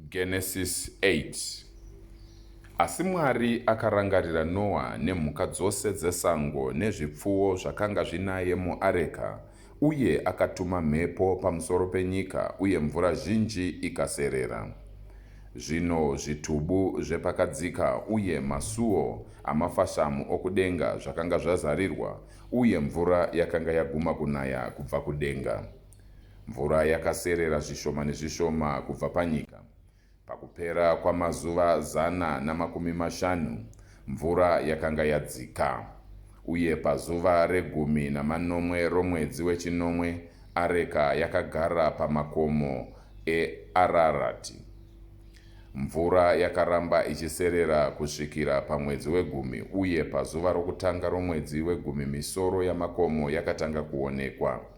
Genesis 8 Asi Mwari akarangarira Noa nemhuka dzose dzesango nezvipfuwo zvakanga zvinaye muareka, uye akatuma mhepo pamusoro penyika uye mvura zhinji ikaserera. Zvino zvitubu zvepakadzika uye masuo amafashamu okudenga zvakanga zvazarirwa, uye mvura yakanga yaguma kunaya kubva kudenga. Mvura yakaserera zvishoma nezvishoma kubva panyika. Pakupera kwamazuva zana namakumi mashanu, mvura yakanga yadzika. Uye pazuva regumi namanomwe romwedzi wechinomwe, areka yakagara pamakomo eArarati. Mvura yakaramba ichiserera kusvikira pamwedzi wegumi, uye pazuva rokutanga romwedzi wegumi misoro yamakomo yakatanga kuonekwa.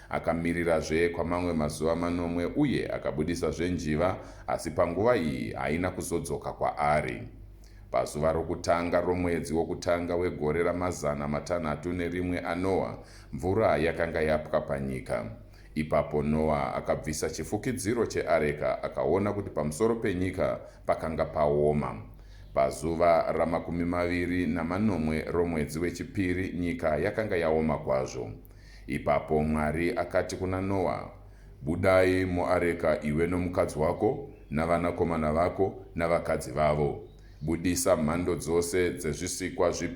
Akamirirazve kwamamwe mazuva manomwe uye akabudisazve njiva, asi panguva iyi haina kuzodzoka kwaari. Pazuva rokutanga romwedzi wokutanga wegore ramazana matanhatu nerimwe aNoa, mvura yakanga yapwa panyika. Ipapo Noa akabvisa chifukidziro cheareka akaona kuti pamusoro penyika pakanga paoma. Pazuva ramakumi maviri namanomwe romwedzi wechipiri nyika yakanga yaoma kwazvo. Ipapo Mwari akati kuna Noa, Budai muareka iwe nomukadzi wako, navanakomana vako, navakadzi vavo. Budisa mhando dzose dzezvisikwa zvipenyu.